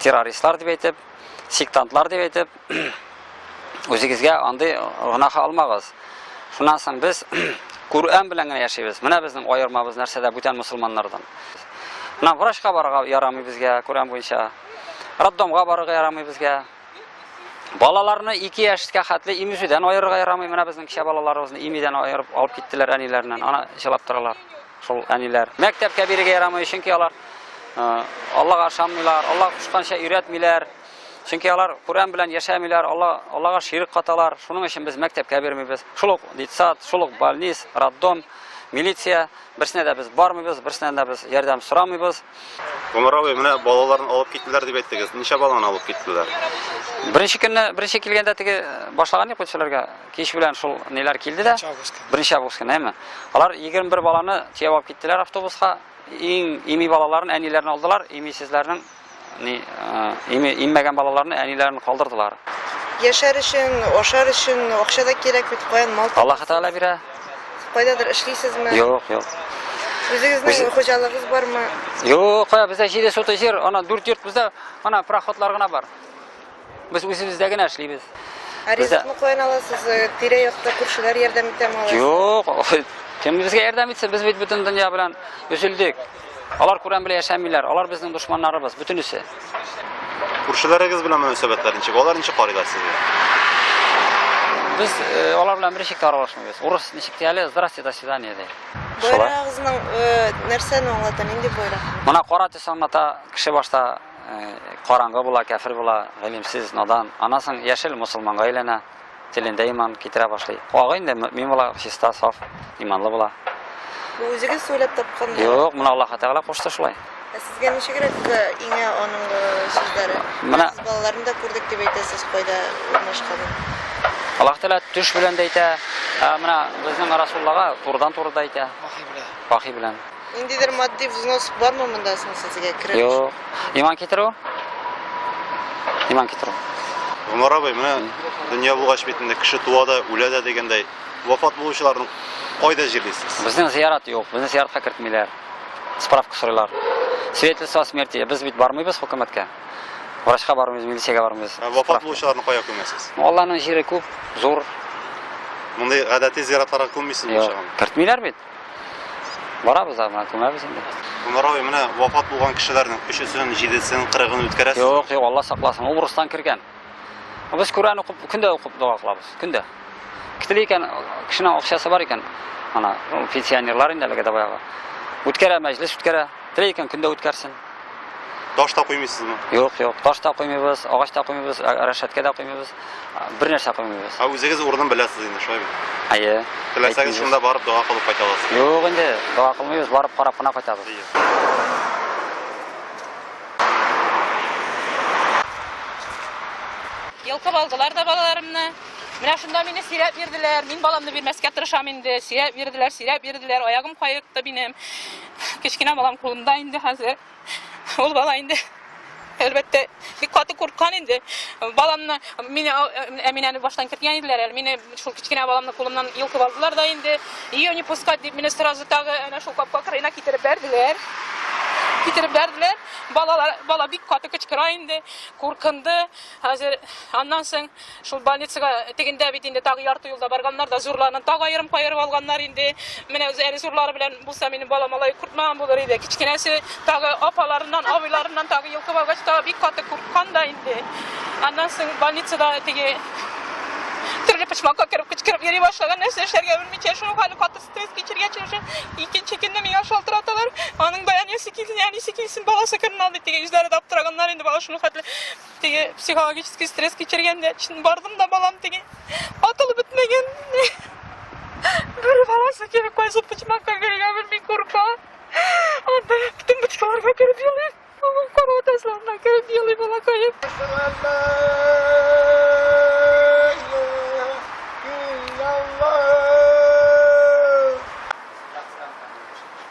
террористлар дип әйтеп, сектантлар дип әйтеп, үзегезгә андый гөнаһ алмагыз. Шуннан соң без Кур'ан белән генә яшибез. Менә безнең аермабыз нәрсәдә бүтән мусулманнардан. Менә врачка барырга ярамый безгә Кур'ан буенча. Роддомга барырга ярамый безгә. Балаларны 2 яшькә хәтле имизүдән аерырга ярамый. Менә безнең кичә балаларыбызны имидән аерып алып киттеләр әниләреннән. Ана җылап торалар. Шул әниләр мәктәпкә бирергә ярамый, чөнки алар Аллага ышанмыйлар, Алла кушканча өйрәтмиләр. Чөнки алар Коръән белән яшәмиләр, Алла Аллага ширк каталар. Шуның өчен без мәктәпкә бирмибез. Шул ук детсад, шул ук больниц, роддом, милиция берсенә дә без бармыйбыз, берсенә дә без ярдәм сорамыйбыз. Гомер абый, менә балаларын алып киттеләр дип әйттегез. Ничә баланы алып киттеләр? Беренче көнне, беренче килгәндә теге башлаган юк бит Кич белән шул ниләр килде дә. Беренче август көне, әйме? Алар 21 баланы төяп алып киттеләр автобуска. Иң ими балаларын әниләрен алдылар, имисезләрнең ни ими иммәгән балаларны әниләрен калдырдылар. Яшәр өчен, ашар өчен акча да кирәк бит, каян мал? Аллаһ Тәгалә бирә. Кайдадыр эшлисезме? Юк, юк. Үзегезнең хуҗалыгыз бармы? Юк, кая бездә җиде сутый җир, ана дүрт йорт бездә, ана проходлар гына бар. Без үзебездә генә эшлибез. Ә ризыкны каян аласыз? Э, Тирә-якта күршеләр ярдәм итәме алар? Юк, кем безгә ярдәм итсә, без бит бөтен дөнья белән өзелдек. Алар күрәм белән яшәмиләр, алар безнең дошманнарыбыз, бөтенесе. Күршеләрегез белән мөнәсәбәтләр ничек? Алар ничек карыйлар сезгә? Без э, алар белән бер ишектә аралашмыйбыз. Урыс ничек дия әле? Здрасте, до свидания ди. Шулай. Э, нәрсәне аңлата, нинди боерак? Моны кара төс аңлата, кеше башта Караңгы була, кәфер була, гыйлемсез, надан. Аннан соң яшел мусулманга әйләнә, телендә иман китерә башлый. Агы инде мөмин була, чиста, саф, иманлы була. Бу үзегез сөйләп тапкан? Юк, моны Аллаһ Тәгалә кушты шулай. Ә сезгә ничегрәк иңә аның сүзләре? Менә балаларын да күрдек дип әйтәсез, кайда урнашканын. Аллаһ Тәгалә төш белән дә әйтә, менә безнең Расуллага турыдан-туры да әйтә. Вахи белән. Вахи белән. Ниндидер матди взнос бармы монда соң сезгә кереп? Юк. Иман китерү? Иман китерү. Гомар абый, менә дөнья булгач бит инде кеше туа да, үлә дә дигәндәй, вафат булучыларны кайда җирлисез? Безнең зиярат юк, безне зияратка кертмиләр. Справка сорыйлар. Свидетельство о смерти. Без бит бармыйбыз хөкүмәткә. Врачка бармыйбыз, милициягә бармыйбыз. Ә вафат булучыларны кая күмәсез? Алланың җире күп, зур. Мондый гадәти зиратларга күммисез Юк, булачагын. кертмиләр бит. Барабыз да, менә күмәбез инде. Гомеровый менә вафат булган кешеләрнең өчесен, җидесен, кырыгын үткәрәсез. Юк, юк, Алла сакласын. Ул урыстан кергән. Без Коръән укып, көндә укып дога кылабыз, көндә. Китли икән, кешенең акчасы бар икән, ана, пенсионерлар инде әлеге дә баягы. Үткәрә мәҗлес үткәрә. Теләй икән, көндә үткәрсен. Таш та куймыйсызмы? Юк, юк. Таш та куймыйбыз, агач та куймыйбыз, ә- рәшәткә дә куймыйбыз. А, Бер нәрсә куймыйбыз. Ә үзегез урынын беләсез инде, шулай бит. Әйе. Теләсәгез, әйтмибез. шунда барып дога кылып кайта аласыз. Юк инде, дога кылмыйбыз, барып карап кына кайтабыз. Йолкып алдылар да балаларымны. Менә шунда мине сөйрәп йөрделәр. Мин баламны бирмәскә тырышам инде. Сөйрәп йөрделәр, сөйрәп йөрделәр. Аягым каекты минем. Кечкенә балам кулымда инде хәзер. Ул бала инде әлбәттә бик каты курккан инде. Баламны мине Әминәне баштан кертгән иделәр әле. Мине шул кечкенә баламны кулымнан йолкып алдылар да инде. Ее не пускать дип мине сразу тагы әнә шул капка кырыена китереп бәрделәр. Китереп бәрделәр. Балалар бала бик каты кычкыра инде, куркынды. Хәзер аннан соң Шул больницага тегендә бит инде тагы ярты юлда барганнар да, зурларны тагы аерым каерып алганнар инде. Менә үзе әле зурлары белән булса, минем балам алай куркмаган булыр иде. Кечкенәсе тагы апаларыннан, абыйларыннан тагы йолкып алгач, тагы бик каты курккан да инде. Аннан соң больницада теге төрле почмакка кереп кычкырып йөри башлаган, нәрсә эшләргә белмичә, шуның хәле каты стресс кичергәч, уже икенче көнне миңа шалтыраталар. Аның да әнисе килсен, әнисе килсен, баласы керен алды. Теге үзләре дә аптыраганнар инде, бала шуның хәтле Теге психологический стресс кичергәндә чын бардым да балам теге атылып бетмәгән. Бер баласы килеп кайсы почмакка керергә белми курка. Анда бөтен бочкаларга кереп елый. Кору тасларына кереп елый балакаем.